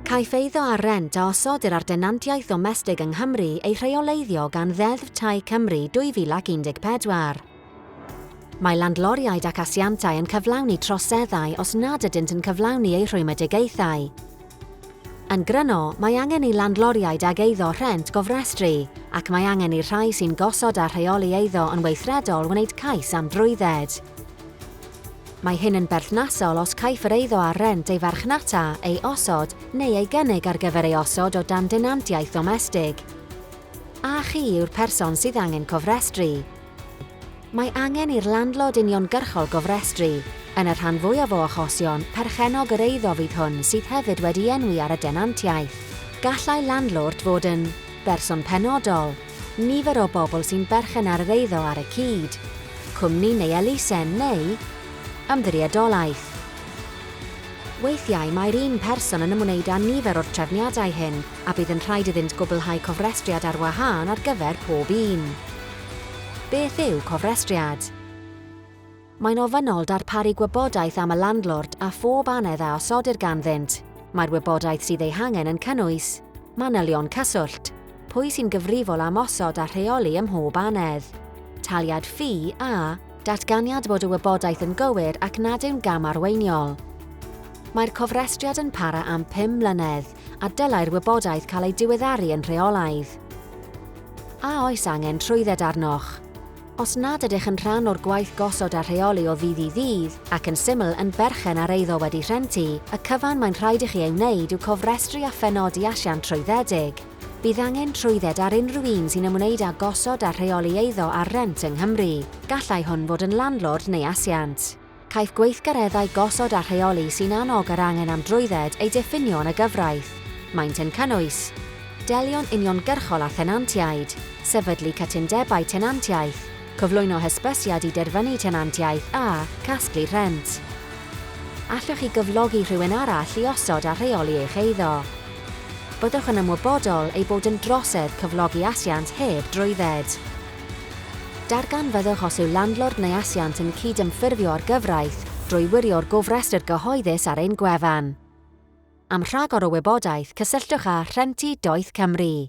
Caiff eiddo ar rent a osodir ar denantiaeth ddomestig yng Nghymru ei rheoleiddio gan Ddeddf Tai Cymru 2014. Mae landloriaid ac asiantau yn cyflawni troseddau os nad ydynt yn cyflawni eu rhwymedigaethau. Yn gryno, mae angen i landlordiaid ag eiddo rhent gofrestru, ac mae angen i'r rhai sy'n gosod a rheoli eiddo yn weithredol wneud cais am drwydded. Mae hyn yn berthnasol os caiff yr eiddo ar rent ei farchnata, ei osod, neu ei gynnig ar gyfer ei osod o dan denantiaeth ddomestig. A chi yw'r person sydd angen cofrestru? Mae angen i'r landlord uniongyrchol gofrestru, yn y rhan fwyaf o achosion, perchennog yr eiddo fydd hwn sydd hefyd wedi enwi ar y denantiaeth. Gallai landlord fod yn, berson penodol, nifer o bobl sy'n berchen ar yr eiddo ar y cyd, cwmni neu elusen neu, ymddiriedolaeth. Weithiau mae'r un person yn ymwneud â nifer o'r trefniadau hyn a bydd yn rhaid iddynt gwblhau cofrestriad ar wahân ar gyfer pob un. Beth yw cofrestriad? Mae'n ofynnol darparu gwybodaeth am y landlord a phob annedd a osodir ganddynt. Mae'r wybodaeth sydd ei hangen yn cynnwys, manylion cyswllt, pwy sy'n gyfrifol am osod a rheoli ym mhob annedd, taliad ffi a datganiad bod y wybodaeth yn gywir ac nad yw'n gam arweiniol. Mae'r cofrestriad yn para am pum mlynedd. a dylai'r wybodaeth cael ei diweddaru yn rheolaidd. A oes angen trwydded arnoch? Os nad ydych yn rhan o'r gwaith gosod a rheoli o ddydd i ddydd, ac yn syml yn berchen ar eiddo wedi rhentu, y cyfan mae'n rhaid i chi ei wneud yw cofrestru a phenodi asiant trwyddedig. Bydd angen trwydded ar unrhyw un sy'n ymwneud â gosod a rheoli eiddo ar rent yng Nghymru. Gallai hwn fod yn landlord neu asiant. Caiff gweithgareddau gosod a rheoli sy'n annog yr angen am drwydded eu diffinio yn y gyfraith. Maent yn cynnwys. Delio'n uniongyrchol â thenantiaid. Sefydlu cytundebau tenantiaeth. Cyflwyno hysbysiad i derfynu tenantiaeth a. Casglu rhent. Allwch chi gyflogi rhywun arall i osod a rheoli eich eiddo? Byddwch yn ymwybodol ei bod yn drosedd cyflogi asiant heb drwydded. Darganfyddwch os yw landlord neu asiant yn cydymffurfio â'r gyfraith drwy wirio'r gofrestr gyhoeddus ar ein gwefan. Am rhagor o wybodaeth, cysylltwch â Rhentu Doeth Cymru.